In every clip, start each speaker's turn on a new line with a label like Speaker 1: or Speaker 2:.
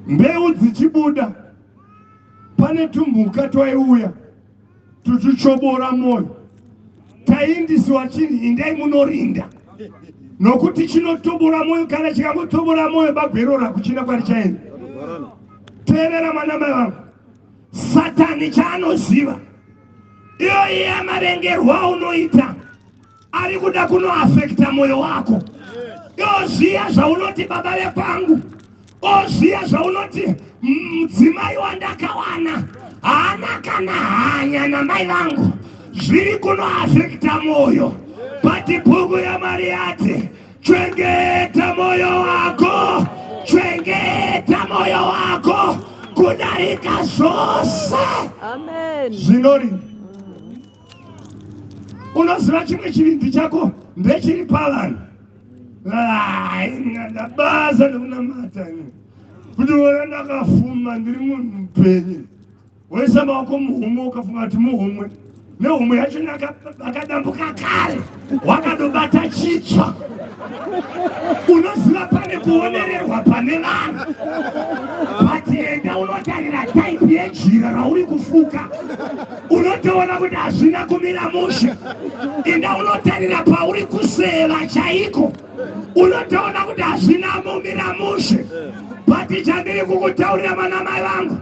Speaker 1: mbeu dzichibuda pane tumhuka twaiuya tuchichobora moyo taindisiwa chinhu indai munorinda nokuti chinotobora moyo kana chikangotobora moyo bagwero rakuchina kwari chaenda teerera mwana mai vangu satani chaanoziva iyoyi yamarengerwa unoita ari kuda kunoafekta mwoyo wako oziva zvaunoti baba vekwangu oziva zvaunoti mudzimai wandakawana haana kana hanya namai vangu zviri kunoafekta mwoyo bati bhuku yamari yati chengeta mwoyo wako chengeta mwoyo wako kudarika zvose
Speaker 2: zvinori
Speaker 1: unoziva chimwe chivindi chako ndechiri pavanhu ndabasa nekunamata kuti ona ndakafuma ndiri munhu mupenyu woisa maoko muhomwe ukafunga kuti muhomwe nehomwe yacho akadambuka kare wakadobata chitsva unoziva pane kuonererwa pane vanhu but enda unotarira type yejira rauri kufuka unotoona kuti hazvina kumira mushe enda unotarira pauri kuseva chaiko unotoona kuti hazvina mumira mushe but chandiri kukutaurira vanamai vangu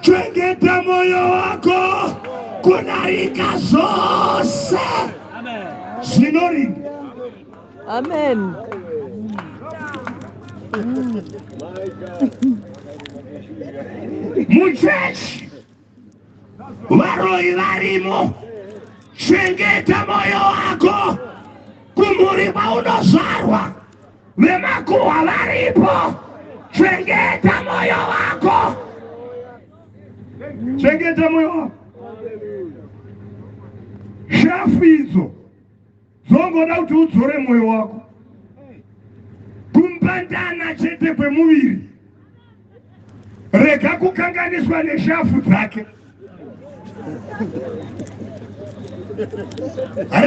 Speaker 1: chengeta moyo wako kunarika zvose zvinorinda
Speaker 2: amen
Speaker 1: muchechi varoyi varimo chengeta moyo wako kumhuri kwaunozvarwa vemakuhwa varipo chengeta moyo wako chengeta moyo wako shafu idzo dzongoda kuti udzore moyo wako kumbandana chete kwemuviri rega kukanganiswa neshafu dzake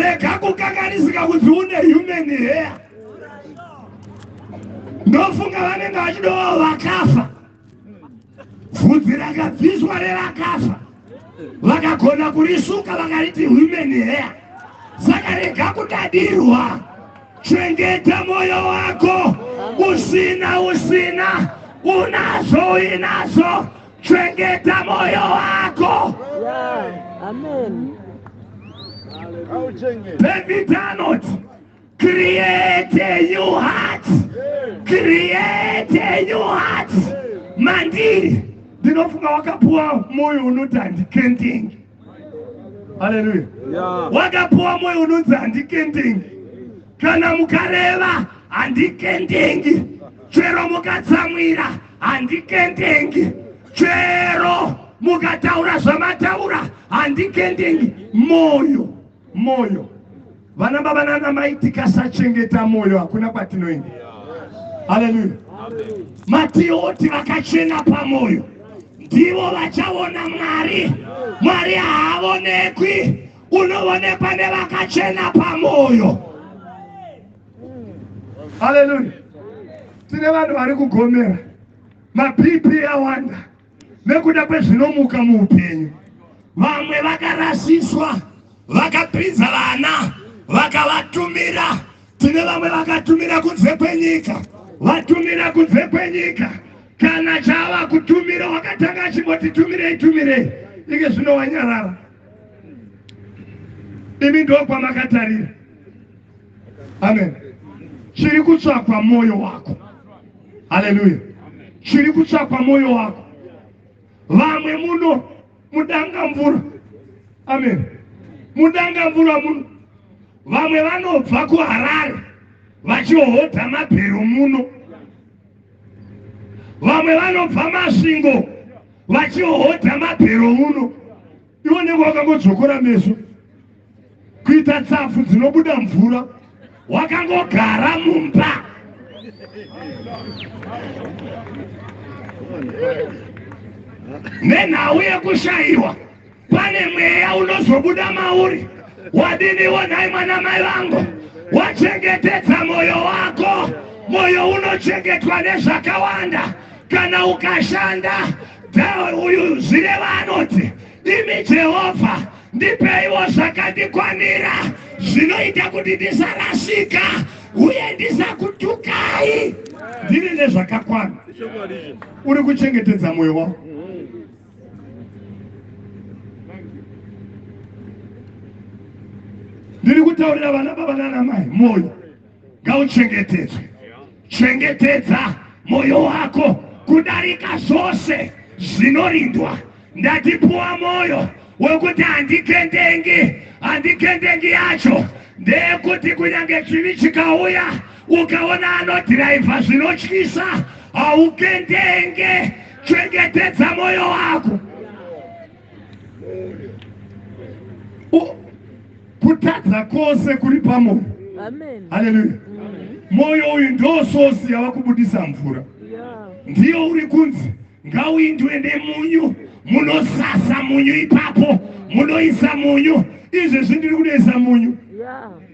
Speaker 1: rega kukanganisika kuti une human hair ndofunga vanenge vachidovawo vakafa vhudzi rakabviswa revakafa vakagona kurisuka vakariti women hair vakarega kudadirwa chengeta moyo wako usina usina unazo uinazo chengeta moyo wako yeah.
Speaker 2: Amen.
Speaker 1: David Arnold create a new heart create a new heart mandiri ndinofunga wakapuwa moyo unoti handikendenge haleluya wakapuwa moyo unonzi handikendenge kana mukareva handikendenge chero mukatsamwira handikendenge chero mukataura zvamataura handikendenge moyo Moyo. Vana baba nana mai tikasachengeta moyo hakuna kwatinoenda. Haleluya. Matioti vakachena pamoyo ndivo vachaona Mwari. Mwari haavonekwi unoonekwa nevakachena pamoyo haleluya tine vanhu vari kugomera mapipi awanda nekuda kwezvinomuka muupenyu vamwe vakarasiswa vakapinza vana vakavatumira tine vamwe vakatumira kunze kwenyika vatumira kunze kwenyika kana chava kutumira wakatanga achimboti tumirei tumirei ike zvino wanyarara imi ndokwamakatarira amen chiri kutsvakwa mwoyo wako haleluya chiri kutsvakwa mwoyo wako vamwe muno mudanga mvura amen mudanga mvura muno vamwe vanobva kuharare vachiohodha mabhero muno vamwe vanobva masvingo vachiohodha mabhero muno Iwe unenge wakangodzvokora meso kuita tsapfu dzinobuda mvura wakangogara mumba nenhau yekushayiwa pane mweya unozobuda mauri wadiniwo nhai mwana mai vangu wachengetedza mwoyo wako mwoyo unochengetwa nezvakawanda kana ukashanda uyu zvireva anoti imi jehovha ndipeiwo zvakandikwanira zvinoita kuti ndisarasika uye ndisakutukai ndiri nezvakakwana uri kuchengetedza mwoyo wako ndiri kutaurira vana baba nana mai mwoyo ngauchengetedzwe chengetedza mwoyo wako kudarika zvose zvinorindwa ndatipuwa mwoyo wekuti handikendengi handikendengi yacho ndeyekuti kunyange chivi chikauya ukaona anodhiraivha zvinotyisa haukendenge chengetedza mwoyo wako kutadza kwose kuri pamoyo haleluya mwoyo uyu ndo sosi yava kubudisa mvura ndiyo uri kunzi ngauindwe nemunyu munosasa munyu ipapo munoisa munyu izvezvi ndiri kunoisa munyu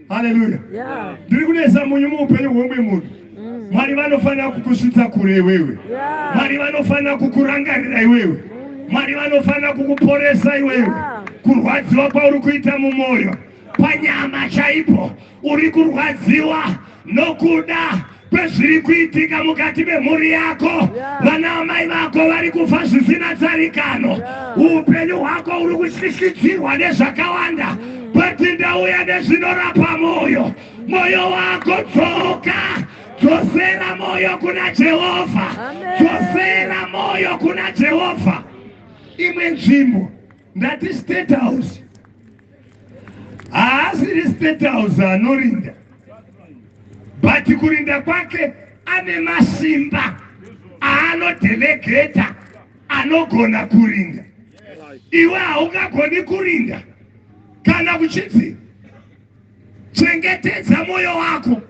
Speaker 1: haleluya yeah. ndiri kunesa munyu muupenyu hwomwe munhu mm. mwari vanofanira kukusvitsa kure iwewe yeah. mwari vanofanira kukurangarira iwewe mm. mwari vanofanira kukuporesa iwewe yeah. kurwadziwa kwauri kuita mumwoyo panyama chaipo uri kurwadziwa nokuda kwezviri kuitika mukati memhuri yako vana amai vako vari kufa zvisina tsarikano upenyu hwako uri kutyisidzirwa nezvakawanda mm. bati ndauya nezvinorapa mwoyo mwoyo wako dzoka dzosera mwoyo kuna jehovha dzosera mwoyo kuna jehovha imwe nzvimbo ndati state house haasiri state house anorinda but kurinda kwake ane masimba aanodelegeta anogona kurinda iwe haungagoni kurinda kana kuchidzi Chengetedza moyo wako.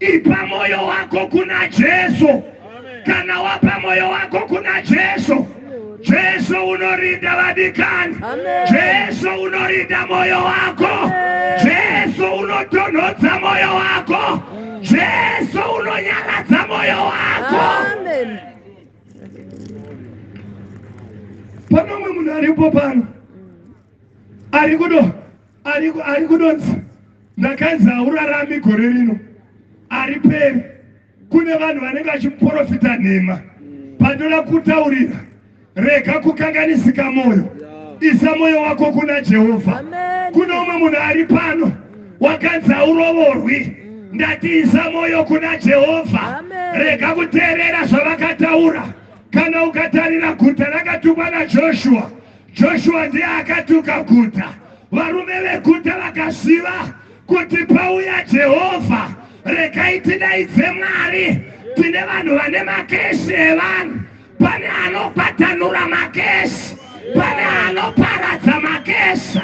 Speaker 1: Ipa moyo wako kuna Jesu. Kana wapa moyo wako kuna Jesu, Jesu unorinda vadikani. Jesu unorinda moyo wako. Jesu unotonhodza moyo wako. Jesu unonyaradza moyo wako. Pane umwe munhu aripo pano ari kudo ari kudonza ndakanzi haurarami gore rino ari peri kune vanhu vanenge vachimuporofita nhema pandoda kutaurira rega kukanganisika mwoyo isa mwoyo wako kuna jehovha kune umwe munhu ari pano wakanzi haurovorwi mm. ndati isa mwoyo kuna jehovha rega kuteerera zvavakataura kana ukatarira guta rakatumwa najoshua Joshua ndiye akatuka guta. Varume veguta vakaziva kuti pauya Jehovha, regai tidaidze Mwari. Tine vanhu vane makesi evanhu. Pane anokwatanura makesi, pane anoparadza makesi,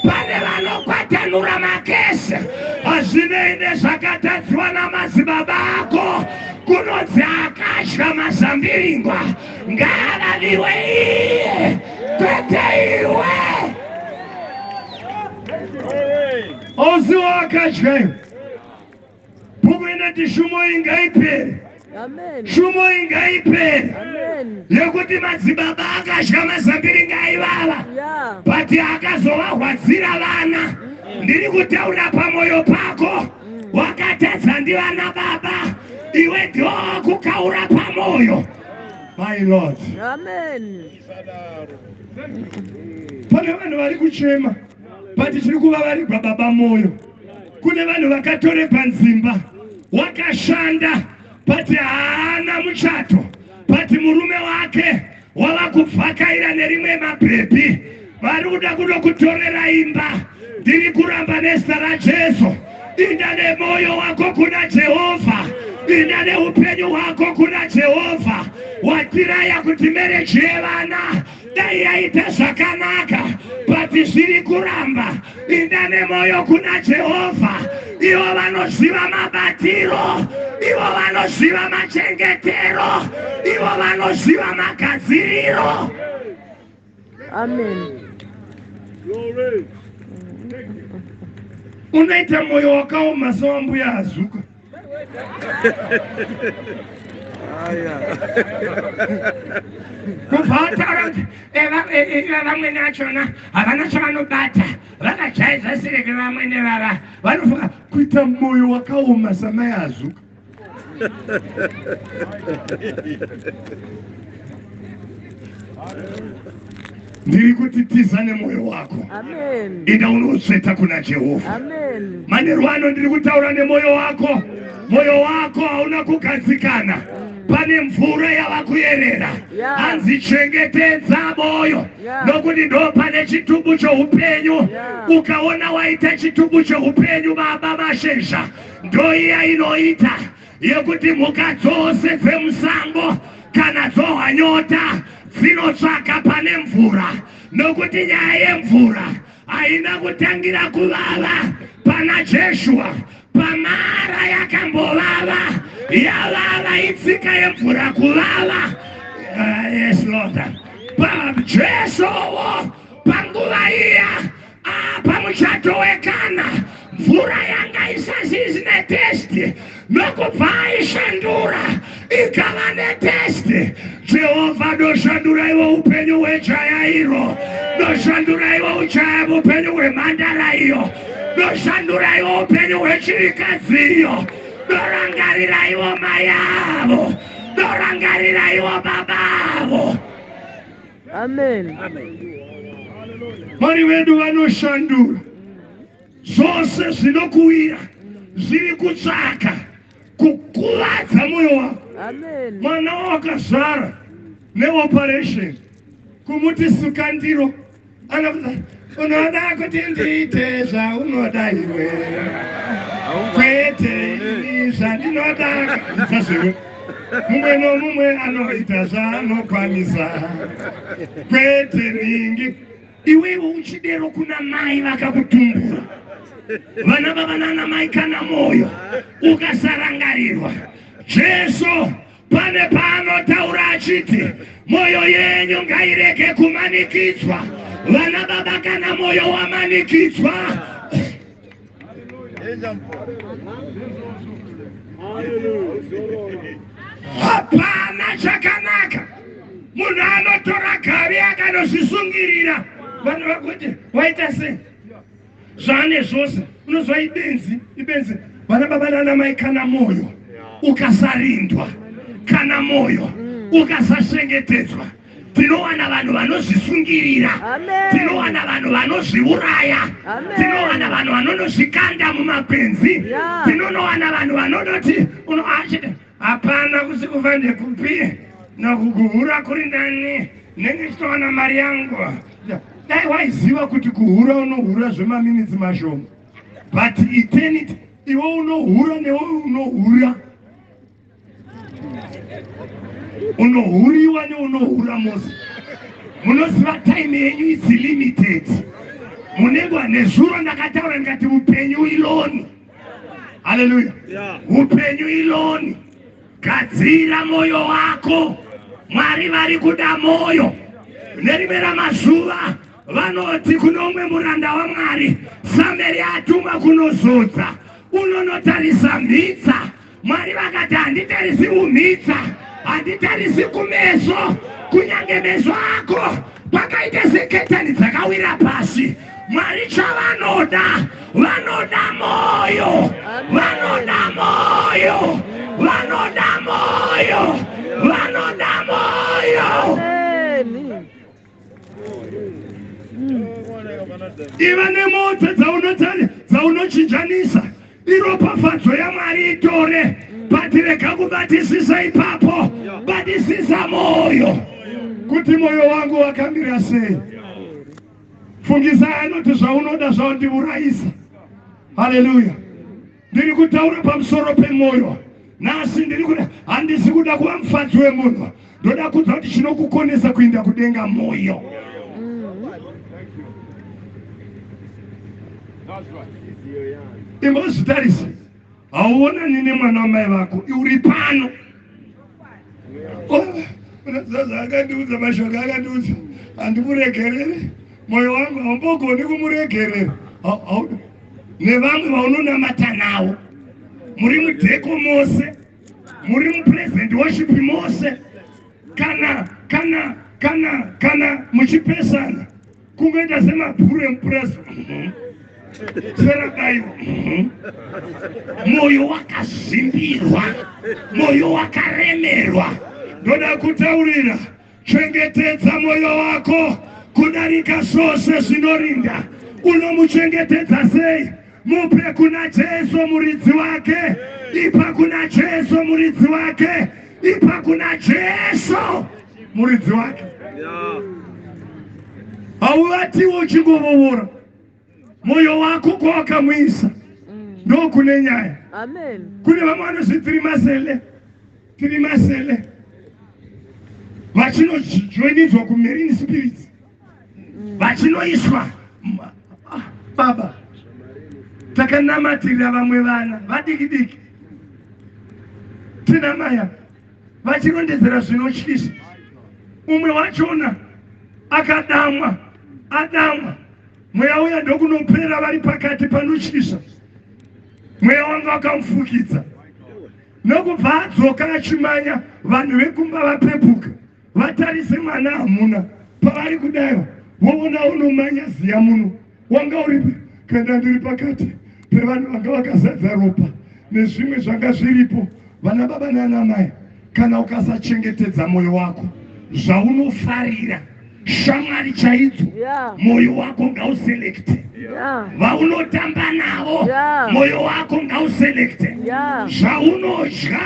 Speaker 1: pane vanokwatanura makesi. Hazvinei nezvakatadziwa namadzibaba ako, kunonzi akadya mazambiringwa. ngaananiwe iye kwete iwe ozi wakadyayo bhuku inoti shumo ingaipere shumo ingaipere yekuti madzibaba akadya mazambiri ngaivava but akazovahwadzira vana ndiri kutaura pamwoyo pako wakatadza ndivana baba iwe ndiwo kukaura pamoyo my lord amen pane vanhu vari kuchema but tiri kuva varigwa baba moyo kune vanhu vakatoregwa nzimba wakashanda but haana muchato but murume wake Wava kubvakaira nerimwe mabhebhi vari kuda kunokutorera imba. Ndiri kuramba nezita raJesu. Inda nemoyo wako kuna Jehovha. Inda neupenyu hwako kuna Jehovha. Watiraya kuti mereji yevana dai yaita zvakanaka but zviri kuramba Pinda nemoyo kuna Jehovha. Ivo vanoziva mabatiro, ivo vanoziva machengetero, ivo vanoziva magadziriro. Amen. Unoita moyo wakaoma sewambuya azuka. kubva wataura kuti vamwene vachona havana chavanobata vakajaidza sireke vamwene vava vanofunga kuita mwoyo wakaoma samai azuka ndiri kuti tiza nemwoyo wako inda
Speaker 2: unotsveta
Speaker 1: kuna jehovha manheru
Speaker 2: ano ndiri
Speaker 1: kutaura nemwoyo wako mwoyo wako hauna kugadzikana pane mvura yava kuyerera hanzi chengetedza mwoyo nokuti ndo pane chitubu choupenyu ukaona waita chitubu choupenyu baba mashezha ndoiya inoita Yekuti mhuka dzose dzemusango kana dzohwa nyota dzinotsvaka pane mvura nokuti nyaya yemvura haina kutangira kuvava pana jeshua pamara yakambovava yavava itsika yemvura kuvava uh, yes lord pajesowo panguva iya Ah, pamuchato wekana mvura yanga isazizi netesti nokubva aishandura ikava netesti jehovha ndoshanduraiwo upenyu hwejaya iro ndoshanduraiwo ujaya upenyu hwemhandara iyo ndoshanduraiwo upenyu hwechirikadzi iyo ndorangariraiwo mai avo ndorangariraiwo baba avo
Speaker 2: Amen.
Speaker 1: Mwari wedu vanoshandura zvose zvinokuwira zviri kutsvaka kukuvadza moyo wako mwana
Speaker 2: wawakazvara
Speaker 1: neoperation kumuti suka ndiro unoda kuti ndiite zvaunoda iwe kwete ini zvandinoda sasero mumwe nomumwe anoita zvaanokwanisa kwete ningi iwewe uchidero kuna mai vakakutumbura vana vava nana mai kana mwoyo ukasarangarirwa jesu pane paanotaura achiti mwoyo yenyu ngairege kumanikidzwa vana baba kana mwoyo wamanikidzwa hapana chakanaka munhu anotora gari akanozvisungirira vanhu vakuti waita sei zvaane zvose unozwa ibenzi ibenzi vana baba nana mai kana moyo ukasarindwa kana moyo mm. ukasachengetedzwa tinowana vanhu vanozvisungirira tinowana vanhu vanozviuraya tinowana vanhu vanonozvikanda mumapenzi tinonowana vanhu vanonoti unoachide Hapana kusikuva ndekupi nakukuhura kuri nani nenge chitowana mari yangu dai waiziva kuti kuhura unohura zvemaminitsi mashoma but eternity iwe unohura newe unohura unohuriwa neunohura mose munoziva time yenyu is limited munegwa nezuro ndakataura ndikati upenyu iloni haleluya upenyu iloni gadzira moyo wako mwari vari kuda moyo nerimwe ramazuva vanoti kunomwe muranda wamwari sameri atumwa kunozodza unonotarisa mhitsa Mwari vakati handitarisi kumhitsa, handitarisi kumeso, kunyange meso ako kwakaita seketani dzakawira pasi. Mwari chavanoda, vanoda moyo, vanoda moyo, vanoda moyo, vanoda moyo. iva nemota dzaunochinjanisa iropafadzo yamwari itore but rega kubatisisa ipapo batisisa moyo kuti moyo wangu wakamira sei fungisai anoti zvaunoda zvaundiurayisa haleluya Ndiri kutaura pamusoro pemwoyo nhasi ndiri kuda handisi kuda kuva mufadzi wemunhu ndoda kuudza kuti chinokukonesa kuinda kudenga mwoyo imbozvitarisa hauonani nemwana wamai vako uri pano unozaza akandiudza mashoko akandiudza handimuregerere mwoyo wangu haumbogoni kumuregerera nevamwe vaunonamata nawo muri mudheko mose muri mupresent worship mose kana kana kana kana muchipesana kungoita semabhuru emupurazi serakaiwa mwoyo wakazvimbirwa mwoyo wakaremerwa ndoda kutaurira chengetedza mwoyo wako kudarika zvose zvinorinda unomuchengetedza sei Mupe kuna Jesu muridzi wake. Ipa kuna Jesu muridzi wake. Ipa kuna Jesu muridzi wake. Hauvatiwo uchingovovora moyo wako kwawakamwisa mm. ndokune nyaya. Kune
Speaker 2: vamwe vanozvi
Speaker 1: tiri masele tiri masele vachinojoinidzwa kumarine spirits vachinoiswa ah, baba takanamatira vamwe vana vadiki diki tina maya vachirondedzera zvinotyisa umwe wachona akadamwa adamwa mweya uya ndokunopera vari pakati panotyisa mweya wanga wakamufukidza nokubva adzoka achimanya vanhu vekumba vapepuka vatarise mwana hamuna pavari kudaiwa woona unomanya ziya muno wanga uripi kana ndiri pakati pevanhu vanga vakazadza ropa nezvimwe zvanga zviripo vana baba nana mai kana ukasachengetedza mwoyo wako zvaunofarira shamwari chaidzo mwoyo wako ngauselekte vaunotamba navo mwoyo wako ngauselekte zvaunodya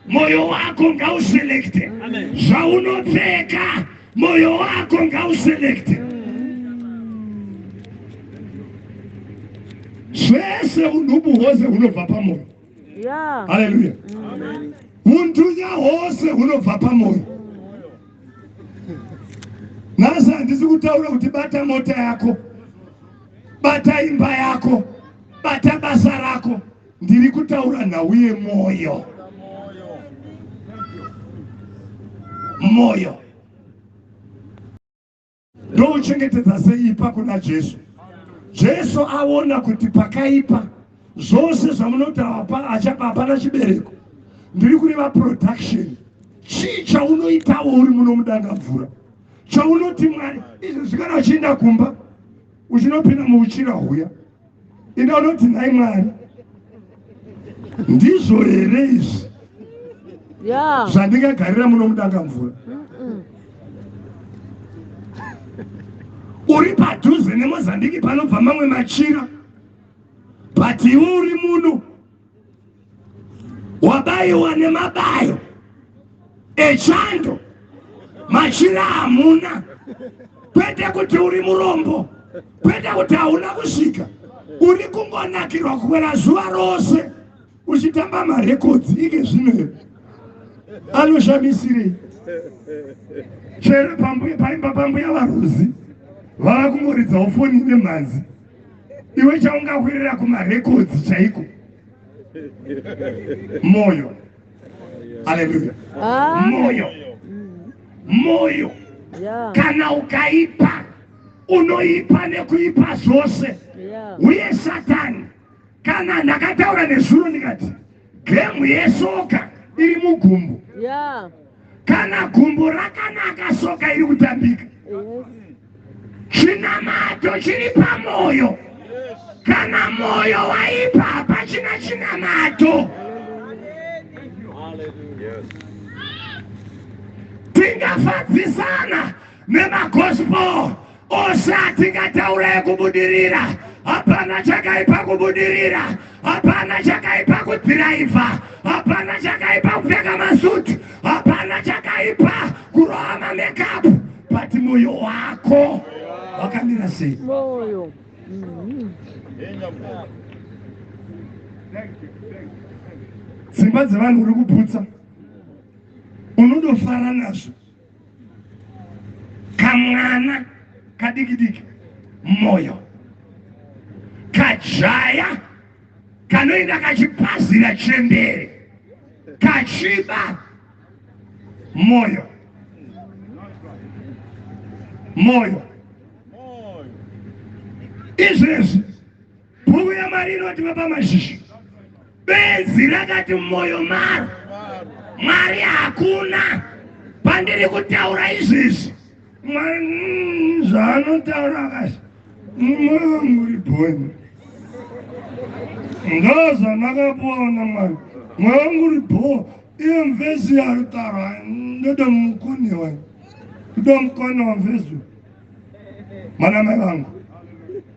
Speaker 1: moyo wako ngauselekte zvaunopfeka moyo wako ngauselekte zvese unhubu hwose hunobva pamoyo haleluya untunya hwose hunobva pamoyo nhasi handisi kutaura kuti bata mota yako bata imba yako bata basa rako Ndiri kutaura nhau yemoyo. Moyo. Ndouchengetedza sei ipa kuna Jesu? Jesu aona kuti pakaipa zvose zvamunoti hapa achapa hapana chibereko. Ndiri kureva production. Chii chaunoitawo uri muno mudanga mvura? Chaunoti Mwari izvezvi kana uchienda kumba uchinopinda muuchira huya ende unoti nhai mwari ndizvo here izvi zvandingagarira muno mudanga mvura uri padhuze nemozambiki panobva mamwe machira but iwe uri muno wabaiwa nemabayo echando machira hamuna kwete kuti uri murombo kwete kuti hauna kusvika uri kungonakirwa kukwera zuva rose uchitamba marekodzi ike zvino anoshamisirei chero paimba pambuya varuzi vava kungoridzawo foni nemhanzi iwe chaungahwirira kumarekodzi chaiko moyo aleluya moyo moyo kana ukaipa unoipa nekuipa zvose uye satani kana ndakataura nezuro ndikati gemu yesoka iri mugumbu kana gumbo rakanaka soka iri kutambika chinamato chiri pamwoyo kana mwoyo waipa hapachina chinamato tingafadzisana nemagospel Osha tingataura yekubudirira hapana chakaipa kubudirira hapana chakaipa kudhiraivha hapana chakaipa kupfeka masuti hapana chakaipa kuroha mamekapu but mwoyo wako wakamira sei mwoyo mm-hmm. dzimba dzevanhu uri kuputsa unodofara nazvo kamwana kadiki diki moyo kajaya kanoenda kachipazira chembere kachiba moyo moyo izvezvi Bhuku yaMwari inoti baba mashizha benzi rakati mumwoyo maro Mwari hakuna pandiri kutaura izvezvi Mwari mm, zvaanotaura akati mumwoyo wangu uri bhoni ndo zvamakapuwa na Mwari mwoyo wangu uri bhoo iyo mvezi yaari taura ndoda mukone wani kuda mukone wamvezi Mwanamai vangu,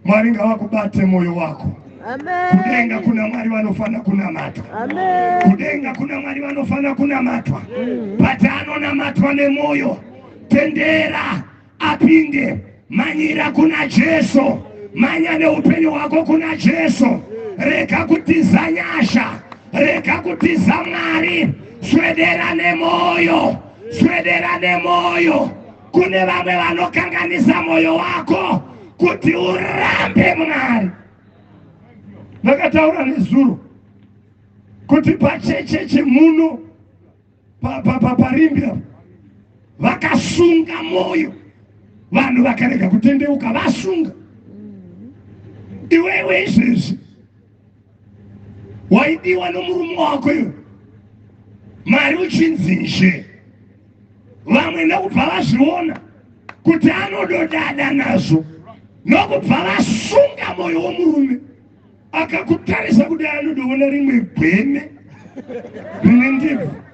Speaker 1: Mwari ngavakubate moyo wako. Kudenga
Speaker 2: kuna Mwari
Speaker 1: vanofanira kunamatwa. Kudenga
Speaker 2: kuna Mwari
Speaker 1: vanofanira kunamatwa. Mm. Bata anonamatwa nemoyo. Tendera apinde. Manyira kuna Jesu. Manya neupenyu hwako kuna Jesu. Rega kutiza nyasha. Rega kutiza Mwari. Swedera nemoyo. Swedera nemoyo. kune vamwe vanokanganisa mwoyo wako kuti urambe mwari ndakataura nezuro kuti pachecheche muno parimbi pa, pa, vakasunga mwoyo vanhu vakarega kutendeuka vasunga iwewe izvezvi waidiwa nomurume wako iwe mari uchinzizve vamwe nekubva vazviona kuti anododada nazvo nokubva vasunga moyo womurume akakutarisa kudai anodoona rimwe gweme rine ndebvu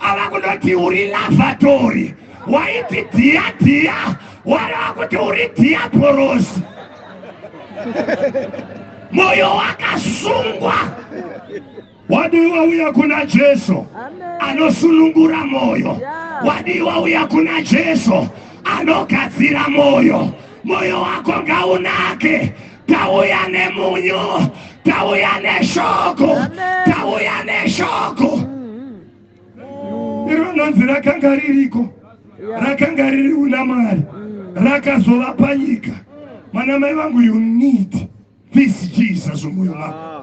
Speaker 1: ava kunoti uri lavatori waiti dhiya dhiya wareva kuti uri dhiya porosi moyo wakasungwa wadii wauya kuna jesu anosunungura moyo wadii wauya kuna jesu anogadzira moyo moyo wako ngaunake tauya nemunyu tauya neshoko tauya neshoko iro nonzi rakanga ririko rakanga riri una mari rakazova panyika mwana mai vangu you need this jesus mwoyo mako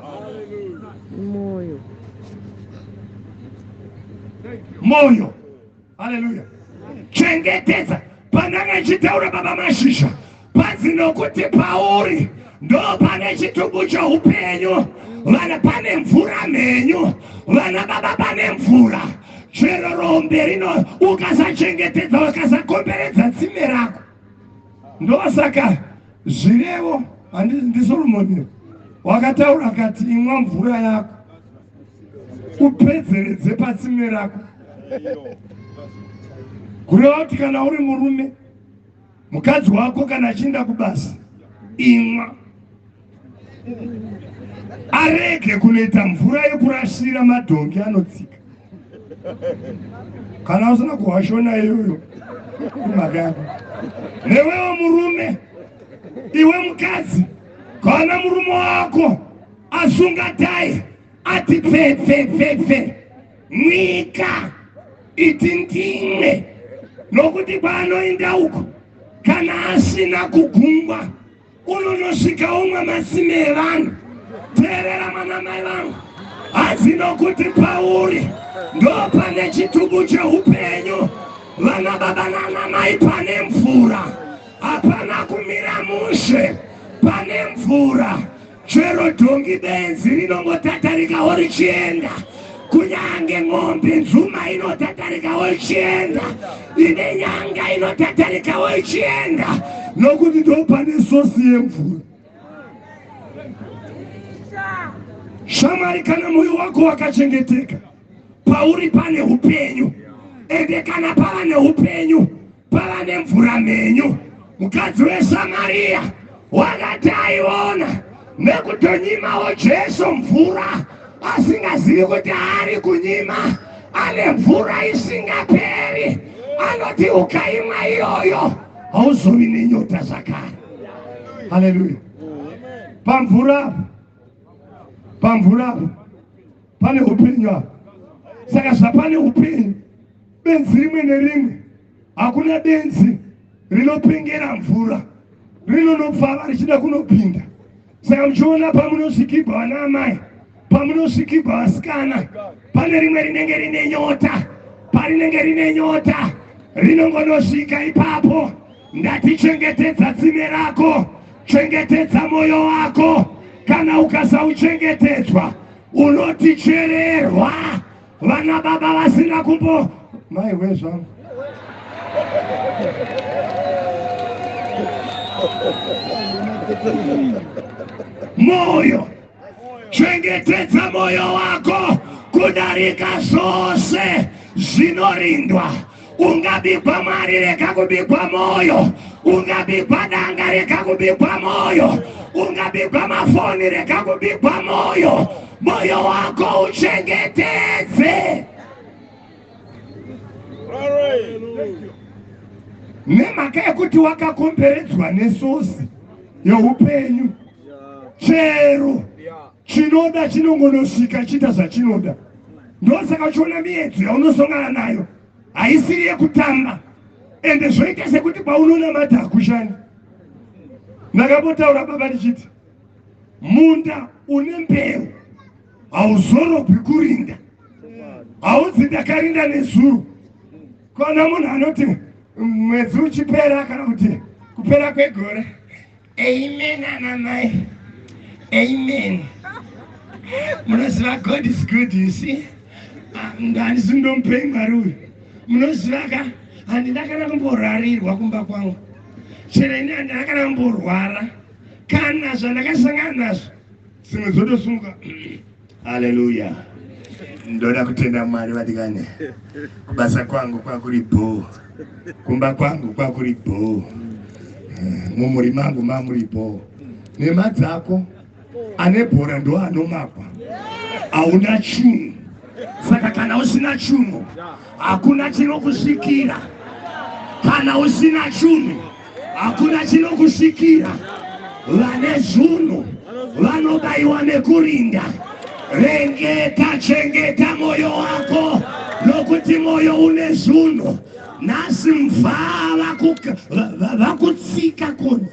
Speaker 1: mwoyo haleluya chengetedza pandanga ichitaura baba mashizha panzi nokuti pauri ndo pane chitubu choupenyu vana pane mvura mhenyu vana baba pane mvura chero rombe rino ukasachengetedza ukasakomberedza tsime rako ndosaka zvirevo handizi ndisolomoni wakataura kati imwa mvura yako upedzeredze patsimwe rako kureva kuti kana uri murume mukadzi wako kana achiinda kubasa imwa arege kunoita mvura yekurasira madhongi anotsika kana usina kuhwashona iyoyo imhaka yako newewo murume iwe mukadzi kana murume wako Asi ungadai ati pfepfepfepfe nyika iti ndimwe nokuti kwaanoenda uko kana asina kugungwa unonosvika umwe masime evanhu teerera mwana mai vangu hanzi nokuti pauri ndo pane chitubu cheupenyu vana baba nana mai pane mvura hapana kumira mushe pane mvura chero dhongi benzi rinongotatarikawo richienda kunyange ng'ombe nzuma inotatarikawo ichienda ine nyanga inotatarikawo ichienda nokuti ndo pane sosi yemvura shamwari kana moyo wako wakachengeteka pauri pane upenyu ende kana pava neupenyu pava nemvura mhenyu mukadzi wesamariya wakati aiona nekutonyimavo jesu mvura asingazivi kuti ari kunyima ane mvura isingaperi anoti ukaimwa iyoyo hauzovi nenyota zvakare haleluya pamvura pamvura pane hupenyu apa saka zvapane hupenyu benzi rimwe nerimwe hakuna benzi rinopengera mvura rinonopfava richida kunopinda saka muchiona pamunosvikibwa vana amai pamunosvikibwa vasikana pane rimwe rinenge rine nyota parinenge rine nyota rinongonosvika ipapo Ndati chengetedza tsime rako, chengetedza moyo wako. Kana ukasauchengetedzwa unotichererwa. Vana baba vasina kumbo mai wezvangu moyo chengetedza mwoyo wako kudarika zvose zvinorindwa ungabigwa mari rega kubigwa mwoyo ungabigwa danga rega kubigwa mwoyo ungabigwa mafoni rega kubigwa mwoyo mwoyo wako uchengetedze nemhaka yekuti wakakomberedzwa nesosi youpenyu chero chinoda chinongonosvika chiita zvachinoda ndosaka uchiona miedzo yaunosongana nayo haisiri yekutamba ende zvoita sekuti paunonamata hakushandi ndakambotaura baba ndichiti munda une mbeu hauzorobwi kurinda haunzi ndakarinda nezuro kona munhu anoti mwedzi uchipera kana kuti kupera kwegore Amen ana mai. Amen. Munoziva God is good you see. Ah, Handisi ndomupei mwari uyu. Munoziva ka handina kana kumborarirwa kumba kwangu. Chero ini handina kana kumborwara. Kana zvandakasangana nazvo dzimwe dzotosumuka haleluya ndoda kutenda mwari vadikane kubasa kwangu kwakuri bhoo kumba kwangu kwakuri bhoo eh, mumuri mangu mamuri bhoo nema dzako ane bhora ndoanomakwa hauna chunhu saka kana usina chunhu hakuna chinokusvikira kana usina chunhu hakuna chinokusvikira vane zvunhu vanobayiwa nekurinda rengeta chengeta mwoyo wako nokuti mwoyo une zvunhu nhasi mvaa vakutsika kuno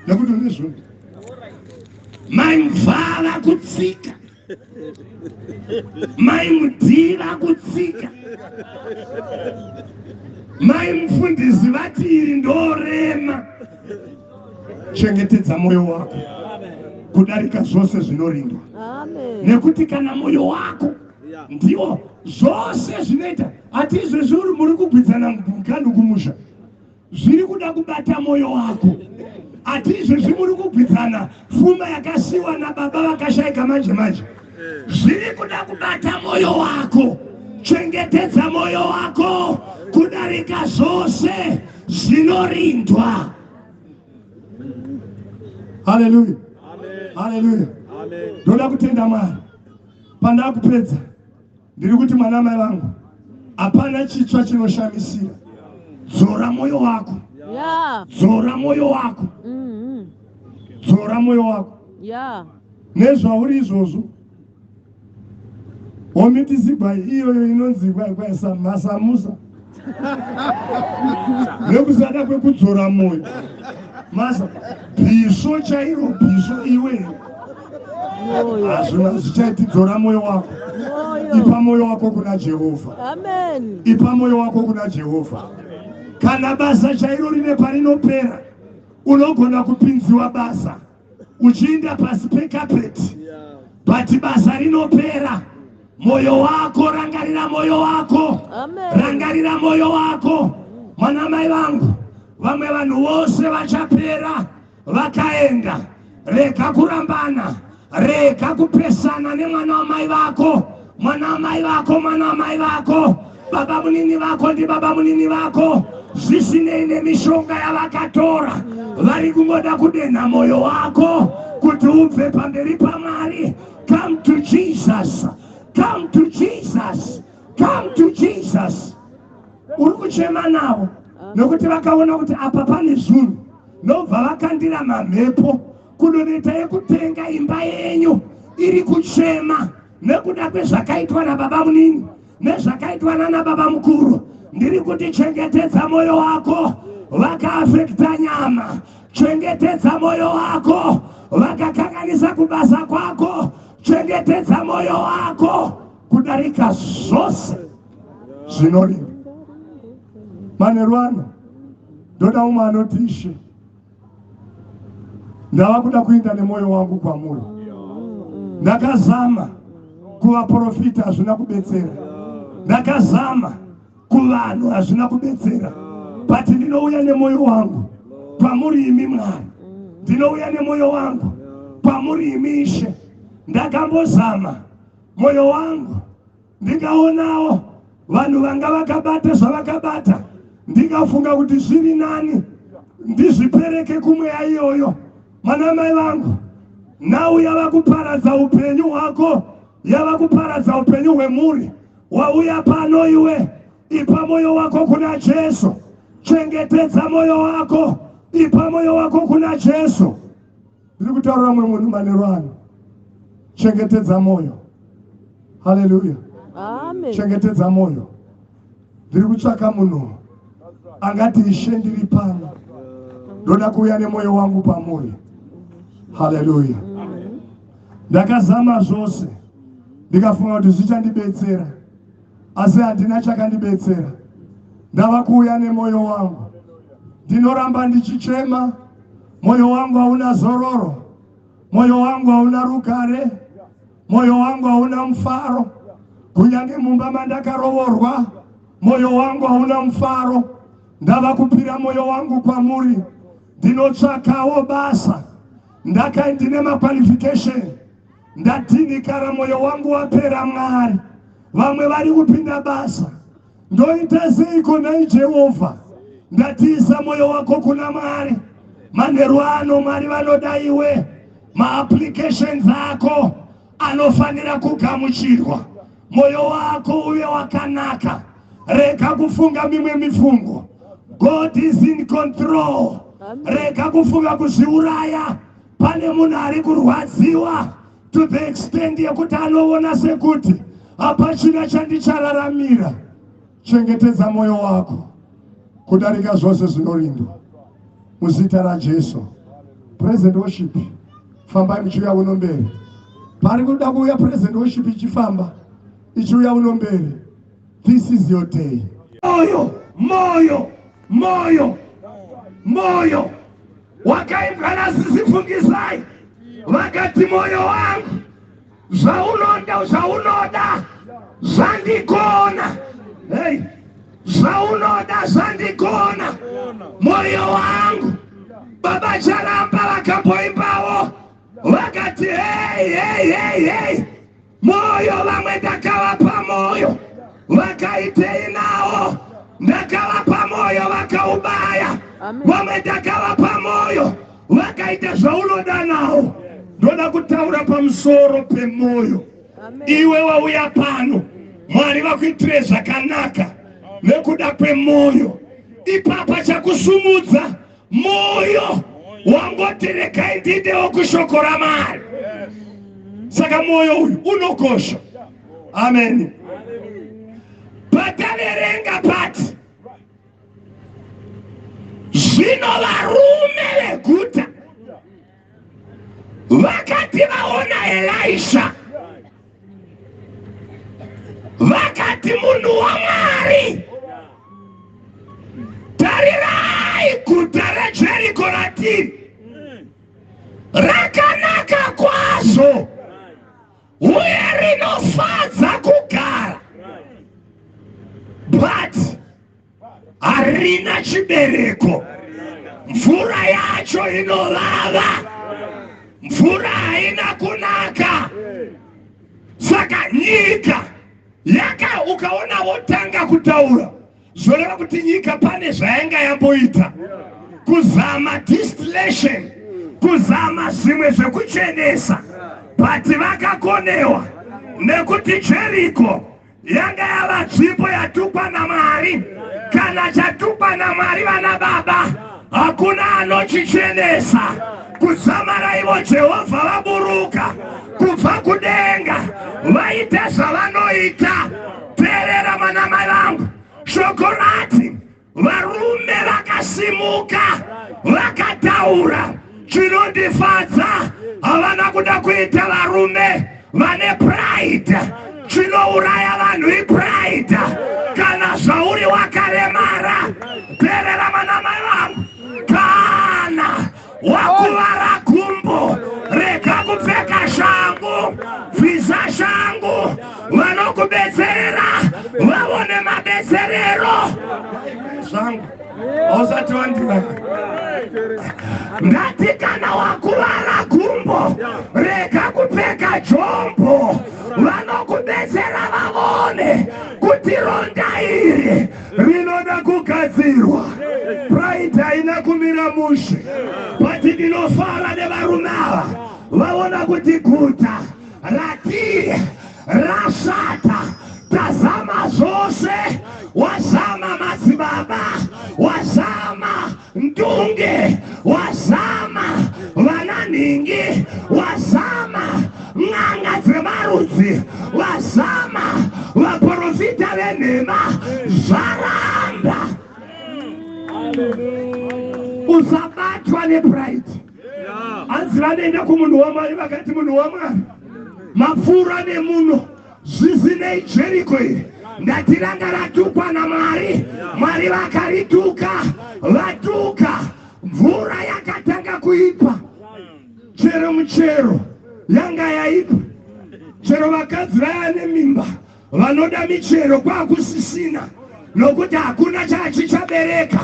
Speaker 1: nekuti une zvunhu mai mvaa vakutsika mai mudhii vakutsika mai mufundisi vati iri ndorema chengetedza mwoyo wako kudarika zvose zvinorindwa nekuti kana mwoyo wako ndiwo zvose zvinoita hati izvezvi uri muri kugwidzana mukandi kumusha zviri kuda kubata mwoyo wako ati izvezvi muri kugwidzana fuma yakasiwa nababa vakashaika manje manje zviri kuda kubata mwoyo wako chengetedza mwoyo wako kudarika zvose zvinorindwa haleluya haleluya ndoda kutenda mwari pandakupedza ndiri kuti mwana mai vangu hapana chitsva chinoshamisira dzora mwoyo wako dzora mwoyo wako mm-hmm. dzora mwoyo wako nezvauri izvozvo homitizigwai iyoyo inonzi gwaikwai samasamusa nekusada kwekudzora moyo masa bhisvo chairo bhisvo iwe hazvina zvichaiti dzora moyo wako ipa moyo wako kuna jehovha ipa moyo wako kuna jehovha kana basa chairo rine parinopera unogona kupinziwa basa uchiinda pasi pekapeti but basa rinopera moyo wako rangarira moyo wako rangarira moyo wako mwana mai vangu vamwe vanhu vose vachapera vakaenda rega kurambana rega kupesana nemwana wamai vako mwana amai vako mwana amai vako baba munini vako ndi baba munini vako zvisinei nemishonga yavakatora vari kungoda kudenha mwoyo wako kuti ubve pamberi pamwari come to jesus come to jesus come to jesus uri kuchema navo nokuti vakaona kuti apa pane zunhu nobva vakandira mamhepo kudoneta yekutenga imba yenyu iri kuchema nekuda kwezvakaitwa nababamunini nezvakaitwa nana baba mukuru ndiri kuti chengetedza mwoyo wako vakaafekta nyama chengetedza mwoyo wako vakakanganisa kubasa kwako chengetedza mwoyo wako kudarika zvose zvinorima manerwana ndoda umwe anotishe ndava kuda kuenda nemwoyo wangu kwamuri ndakazama kuvaprofita hazvina kubetsera ndakazama kuvanhu hazvina kubetsera but ndinouya nemwoyo wangu kwamuri imi mwari ndinouya nemwoyo wangu kwamuri imi ishe ndakambozama mwoyo wangu ndikaonawo vanhu vanga vakabata zvavakabata ndikafunga kuti zviri nani ndizvipereke kumweya iyoyo mwana mai vangu nhau yava kuparadza upenyu hwako yava kuparadza upenyu hwemhuri wauya pano iwe ipa mwoyo wako kuna jesu chengetedza mwoyo wako ipa mwoyo wako kuna jesu Ndiri kutaura mwe munhu manero ano. Chengetedza moyo. Hallelujah. Amen.
Speaker 2: Chengetedza moyo.
Speaker 1: Ndiri kutsvaka munhu angati ishe ndiri pano. Ndoda kuuya nemoyo wangu pamuri. Hallelujah. Ndakazama zvose ndikafunga kuti zvichandibetsera. asi handina chakandibetsera. Ndava kuuya nemwoyo wangu, ndinoramba ndichichema. Mwoyo wangu hauna zororo, mwoyo wangu hauna rugare, mwoyo wangu hauna mufaro. Kunyange mumba mandakarovorwa, mwoyo wangu hauna mufaro. Ndava kupira mwoyo wangu kwamuri, ndinotsvakawo basa. Ndaka ndine maqualification Ndadhinikara moyo wangu wapera Mwari. Vamwe vari kupinda basa. Ndoita seiko nhai Jehovha? Ndatiisa moyo wako kuna Mwari. Manheru ano Mwari vanoda iwe. Maapplications ako anofanira kugamuchirwa. Moyo wako uve wakanaka. Rega kufunga mimwe mifungo. God is in control. Rega kufunga kuzviuraya. Pane munhu ari kurwadziwa to the extent yekuti anoona sekuti hapachina chandichararamira. Chengetedza moyo wako kudarika zvose zvinorindwa muzita raJesu. Present worship, fambai muchiuya uno mberi. Pari kuda kuuya present worship ichifamba ichiuya uno mberi. This is your day. Moyo, moyo, moyo, moyo. wakaimbwa nasisi fungisai vakati moyo wangu zvaunoda zvaunoda zvandigona hey. zvaunoda zvandigona moyo wangu baba charamba vakamboimbawo vakati hey, hey, hey, hey. Moyo vamwe ndakavapa moyo vakaitei nawo ndakavapa moyo vakaubaya vamwe ndakavapa moyo vakaita zvaunoda nawo ndoda kutaura pamusoro pemoyo iwe wauya pano mwari vakuitire zvakanaka nekuda kwemoyo ipapa chakusumudza moyo wangoti regai ndidewo kushoko ramari saka moyo uyu unokosha amen pataverenga pati zvino varume veguta vakati vaona elisha vakati munhu wamwari tarirai guta rejeriko ratiri rakanaka kwazvo uye rinofadza kugara but harina chibereko mvura yacho inovava mvura haina kunaka saka nyika yaka ukaona votanga kutaura zvoreva kuti nyika pane zvayanga yamboita kuzama distillation kuzama zvimwe zvekuchenesa but vakakonewa nekuti jeriko yanga yava tsvipo yatukwa namwari kana chatukwa namwari vana baba hakuna anochichenesa kuzamara ivo jehovha vaburuka kubva kudenga vaita zvavanoita teerera manamai vangu shoko rati varume vakasimuka vakataura chinondifadza havana kuda kuita varume vane pride chinouraya vanhu ipride kana zvauri wakaremara perera manamai vangu kana wakuvara gumbo rega kupfeka shangu bvisa shangu vanokubetserera vavone mabetserero zvangu hausati wandivaa ndati kana wakuvara gumbo rega kupfeka jombo vanokubetsera vavone kuti ronda iri rinoda kugadzirwa pride haina kumira mushe but ndinofara nevarume ava vaona kuti guta ratiri rashata tazama zvose wazama madzibaba wazama Ndunge wazama, vananhingi wazama, n'anga dzemarudzi vazama, vaporofita venhema zvaramba. Usabatwa nepride. Hanzi vanoenda kumunhu waMwari vakati munhu waMwari mapfuura nemuno Zvisinei Jeriko iri ndati ranga ratukwa naMwari. Mwari vakarituka, vatuka. Mvura yakatanga kuipa, chero muchero yanga yaipa, chero vakadzi vaya nemimba vanoda michero kwakusisina nokuti hakuna chachichabereka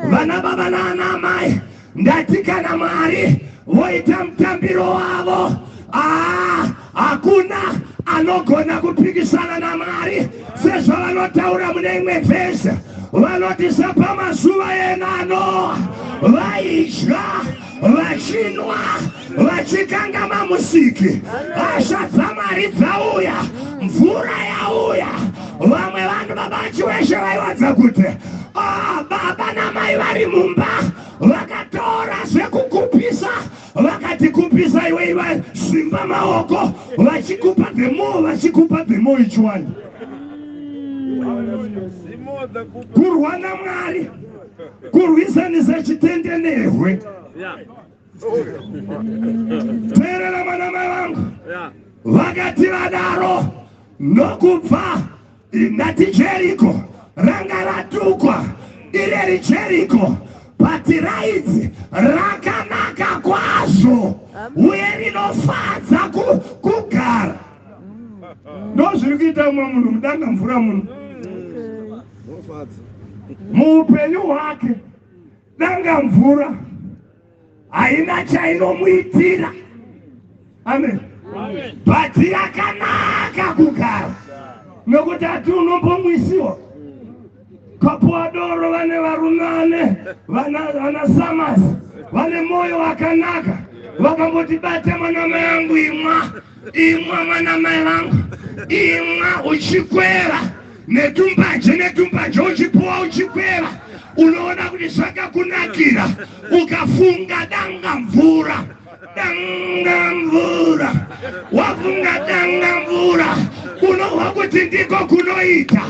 Speaker 1: vana baba naana amai Ndati kana Mwari voita mutambiro wavo, aa, hakuna anogona kupikisana naMwari sezvavanotaura mune imwe vhesi vanoti sapamazuva enano vaidya vachinwa vachikangama musiki hasha dzamwari dzauya mvura yauya vamwe vanhu baba vachiweshe vaiwadza kuti ah, baba namai vari mumba vakatora zvekukupisa vakati kupisa iwe vasimba maoko vachikupa dhemo vachikupa dhemo ichiwani kurwa namwari kurwisanisa chitendenehwe yeah. teerera vana mai vangu vakati vadaro nokubva ndati jeriko ranga ratukwa ireri jeriko bati raidzi rakanaka kwazvo uye rinofadza kugara ndozviri kuita umwe munhu mudanga mvura muno muupenyu hwake Nanga mvura haina chainomuitira. Amen. Bhaji yakanaka kugara nokuti ati unombomwisiwa kapuwa doro vane varume vane vana samasi vane mwoyo wakanaka vakamboti bata mwanama yangu imwa imwa mwana mai vangu imwa uchikwera netumbanje netumbanje uchipuwa uchikwera unoona kuti zvakakunakira ukafunga danga mvura danga mvura wafunga danga mvura unohwa kuti ndiko kunoita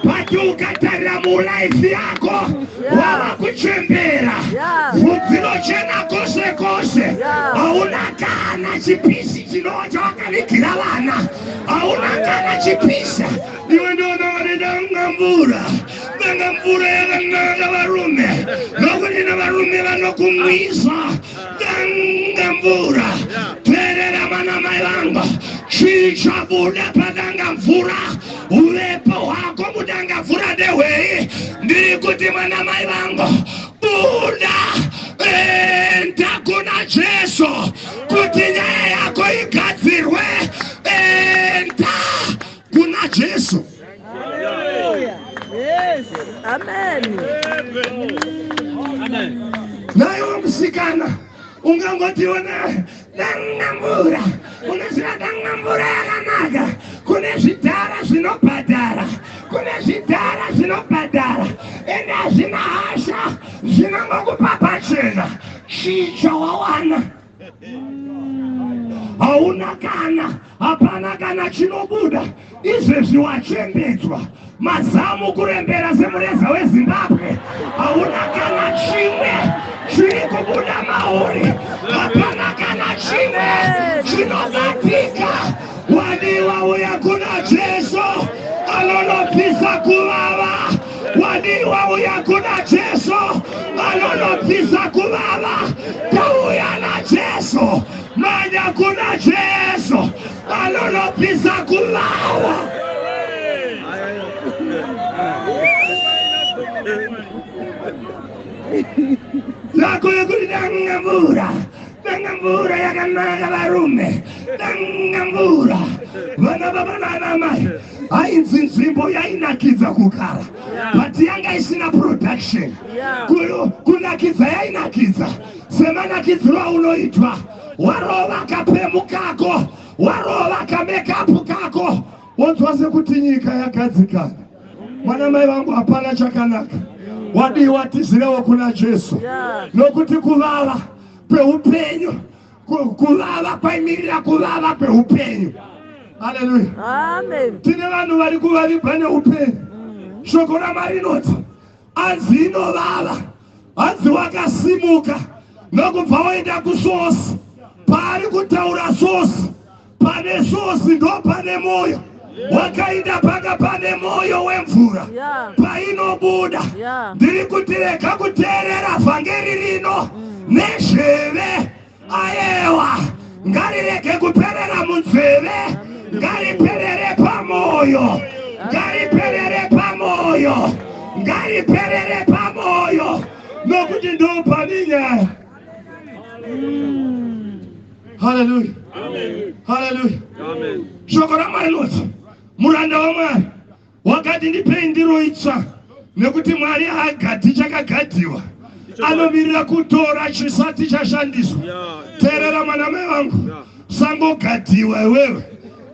Speaker 1: but ukatarira mulife yako wava kuchembera vhudzi rochena kose kose hauna kana chipisi chinova chawakavigira vana hauna kana chipisa iwe ndoonawanedaunga mvura vanga mvura yakananga varume nokuti navarume vanokumwisa danga mvura terera vanamai vanga chii chabuda padanga mvura uvepo hwako mudanga vhura dehwei ndiri kuti mwana mai vangu buda enda kuna jesu kuti nyaya yako igadzirwe enda kuna jesu naiwo musikana ungangotiwo dangamvura unoziva dangamvura yakanaka kune zvidhara zvinobhadhara kune zvidhara zvinobhadhara ende hazvina hasha zvinongokupa pachena chii chawawana hauna kana Hapana kana chinobuda izvezvi wachembedzwa mazamu kurembera semureza wezimbabwe hauna kana chimwe chiri kubuda mauri hapana kana chimwe chinobatika wadiwa uya kuna jesu anonobvisa kuvava wadiwa uya kuna jesu anonobvisa kuvava tauya najesu Manya kuna Jesu anonopisa kuvawa. Zako yekuti danga mvura, danga mvura yakanaka varume, danga mvura vana baba nana mai hainzi nzvimbo yainakidza kugara but yanga isina production kunakidza yainakidza semanakidziro aunoitwa warova kapemu kako warova kamekapu kako wonzwa sekuti nyika yagadzikana mwana mai vangu hapana chakanaka wadii watizirewo kuna jesu nokuti kuvava kweupenyu kuvava kwaimirira kuvava kweupenyu haleluya
Speaker 2: tine vanhu vari
Speaker 1: kuvavibwa neupenyu shoko ramwari inoti hanzi inovava hanzi wakasimuka nokubva waenda kusosi paari kutaura sosi pane sosi ndo pane mwoyo wakainda paka pane mwoyo wemvura painobuda ndiri kuti rega kuteerera vhangeri rino mm. nezveve Ayewa, ngarirege kuperera munzeve, ngariperere pamoyo, ngariperere pamoyo, ngariperere pamoyo, nokuti ndopane nyaya. Haleluya, haleluya. Shoko raMwari linoti muranda waMwari Wakati ndipei ndiro itsva nekuti Mwari haagadhi chakagadhiwa anomirira kutora chisati chashandiswa. Teerera mwana mai vangu, usangogadhiwa iwewe,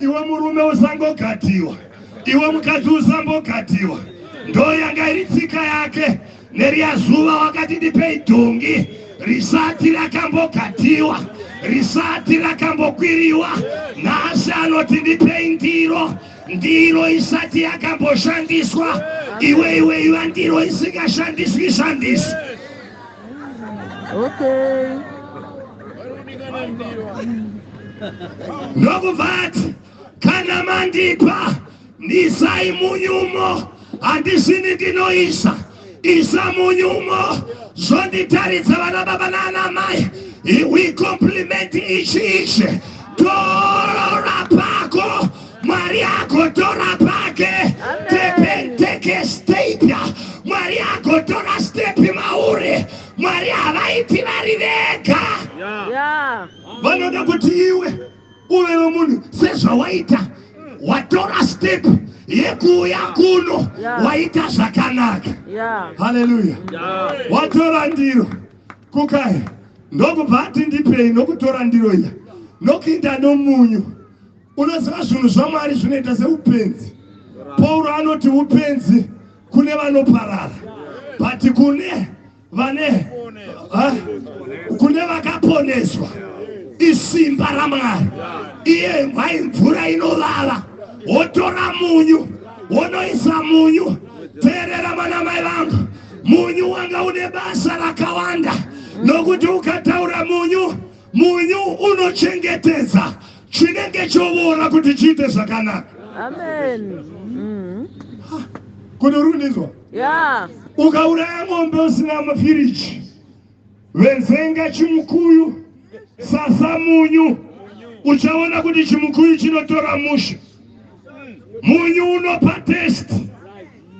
Speaker 1: iwe murume usangogadhiwa, iwe mukadzi usangogadhiwa. Ndoyanga iri tsika yake. Neriya zuva wakati ndipei dhongi risati rakambogatiwa risati rakambokwiriwa nhasi anoti ndipei ndiro ndiro isati yakamboshandiswa iwe iwe iva ndiro isingashandiswi shandisi ndokubva ati kana mandipa Ndisai munyumo handisini ndinoisa isa munyumo zvonditaridza vana baba naana mai we compliment each each torora pako mwari agotora pake tepenteke stepya mwari agotora stepi mauri mwari havaiti vari vega vanoda kuti iwe uyo munhu sezvawaita watora step yekuuya kuno waita zvakanaka haleluya watora ndiro kukai ndokubva ati ndipei nokutora ndiro iya nokuita nomunyu unoziva zvinhu zvamwari zvinoita seupenzi pauro anoti upenzi kune vanoparara but kune vane kune vakaponeswa isimba ramwari iye mwai mvura inovava wotora munyu wonoisa munyu teerera vana mai vangu munyu wanga une basa rakawanda nokuti ukataura munyu munyu unochengetedza chinenge chovora kuti chiite zvakanaka amen
Speaker 2: mm.
Speaker 1: kuti uri kundinzwa yeah. ukauraya mombe usina mafiriji venzenga chimukuyu sasa munyu uchaona kuti chimukuyu chinotora musha munyu unopa test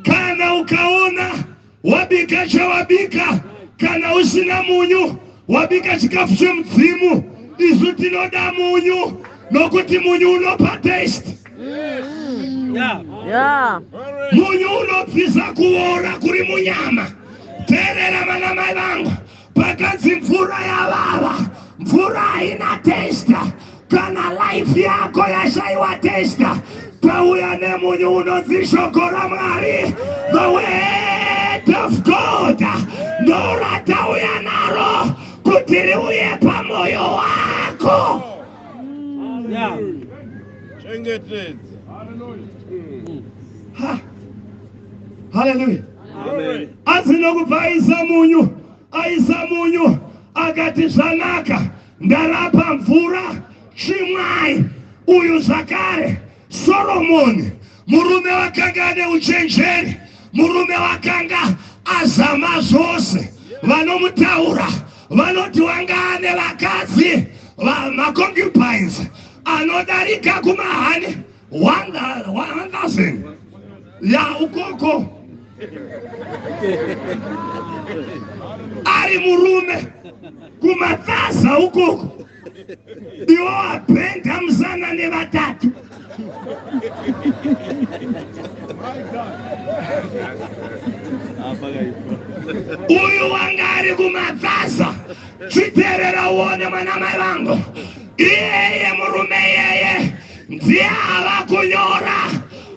Speaker 1: kana ukaona wabika chawabika kana usina munyu wabika chikafu chemudzimu isu tinoda munyu nokuti munyu unopa taste munyu unobvisa kuora kuri munyama terera vana mai vangu pakanzi mvura yavava mvura haina testa Kana life yako yashaiwa testa, tauya nemunyu unonzi shoko raMwari, the word of God, ndoratauya naro kuti riuye pamoyo wako. Yeah. Chengetedza. Ha. Hallelujah. Amen. Asi nokupa aisa munyu, aisa munyu akati zvanaka Ndarapa mvura chimwai uyu zvakare soromoni murume wakanga ane uchenjeri murume wakanga azama zvose vanomutaura vanoti wanga ane vakadzi maconcubines anodarika kumahani 1,000 ya ukoko ari murume kumatsaza ukoko iwo apenda musana nevatatu uyu wanga ari kumatsaza chiterera uone mwana mai vangu iyeye murume iyeye ndiye ava kunyora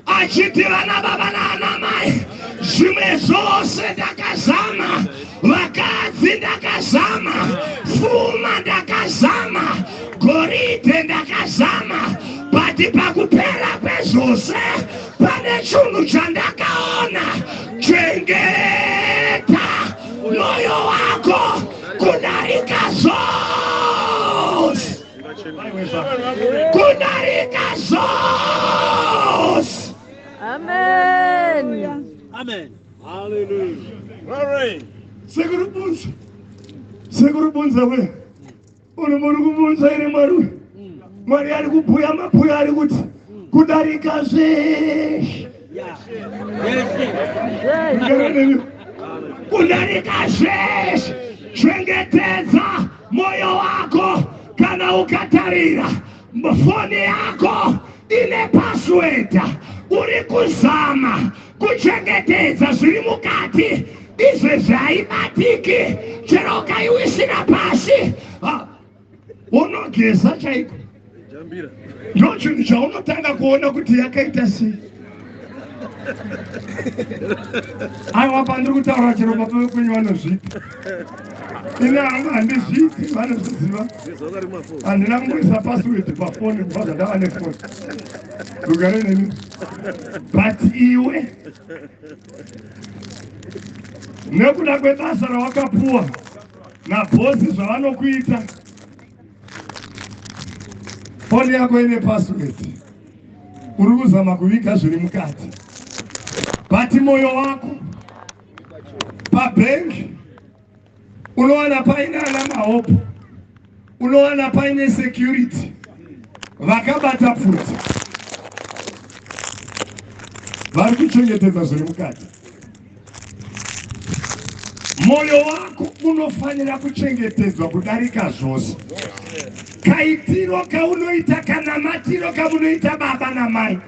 Speaker 1: achiti vana baba naanamai zvimwe zvose ndakazama vakadzi ndakazama fuma ndakazama goridhe ndakazama bati pakupera kwezvose pane chunhu chandakaona chengeta mwoyo wako kudarika zvose kunarika zvose amen
Speaker 2: amen
Speaker 3: hallelujah sekuru bunza
Speaker 1: sekuru bunza we uri muri kubunza iri mwari we mwari ari kubhuya mabhuya ari kuti kudarika zveshe kudarika zveshe chengetedza Moyo wako kana ukatarira foni yako ine password uri kuzama kuchengetedza zviri mukati izvezvi haibatiki chero ukaiwisira pasi unogeza chaiko ndochinhu chaunotanga kuona kuti yakaita sei aiwa pandiri kutaura chero baba vekwenyu vanozviita ini hangu handizviiti vanozviziva handina kungoisa password pafoni kubva zvandava nefoni rugare neni but iwe nekuda kwebasa rawakapuwa nabhosi zvavanokuita foni yako ine password uri kuzama kuviga zviri mukati but moyo wako pabhengi unowana paine ana mahope unowana paine security vakabata pfuti vari kuchengetedza zviri mukati Moyo wako unofanira kuchengetedzwa kudarika zvose. Kaitiro kaunoita kanamatiro kamunoita baba namai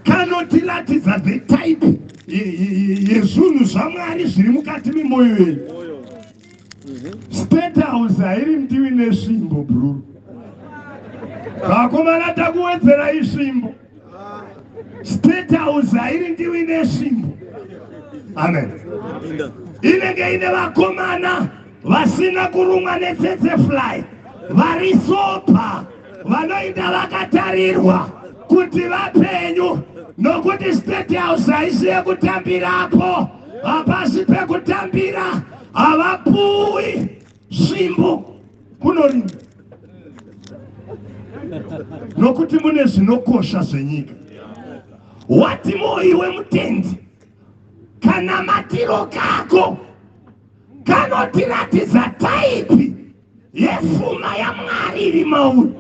Speaker 1: kanotiratidza the type yezvinhu zvaMwari zviri mukati memoyo yenyu. State House hairi mdiwi nesvimbo bruru. Vakomana takuwedzera isvimbo. State House hairi ndiwi nesvimbo. Amen. Inenge ine vakomana vasina kurumwa netsetse fly vari sober. vanoita vakatarirwa kuti vapenyu nokuti state house haisi yekutambirapo hapasi pekutambira havapuwi svimbo kunorima nokuti mune zvinokosha zvenyika wati moyi wemutendi kana matiro kako kanotiratidza taipi yepfuma yamwari iri mauri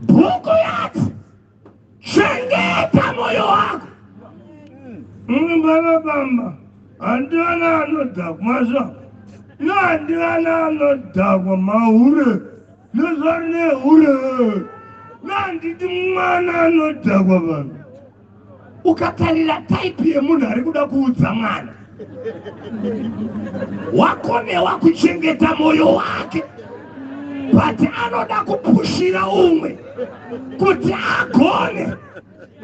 Speaker 1: bhuku yati chengeta mwoyo wako mumwe mwana bamba handivana anodhakwa zva no handivana anodhakwa mahure nezvari nehure no handiti mwana anodhakwa vanhu ukatarira type yemunhu ari kuda kuudza mwana wakonewa kuchengeta mwoyo wake but anoda kupushira umwe kuti agone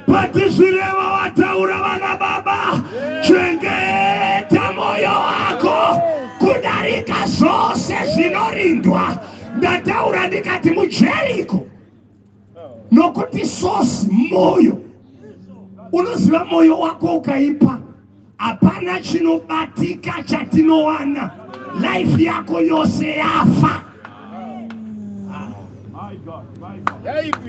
Speaker 1: but zvireva wataura vana baba chengeta mwoyo wako kudarika zvose zvinorindwa ndataura ndikati mujeriko nokuti source moyo unoziva moyo wako ukaipa hapana chinobatika chatinowana life yako yose yafa
Speaker 3: yaipi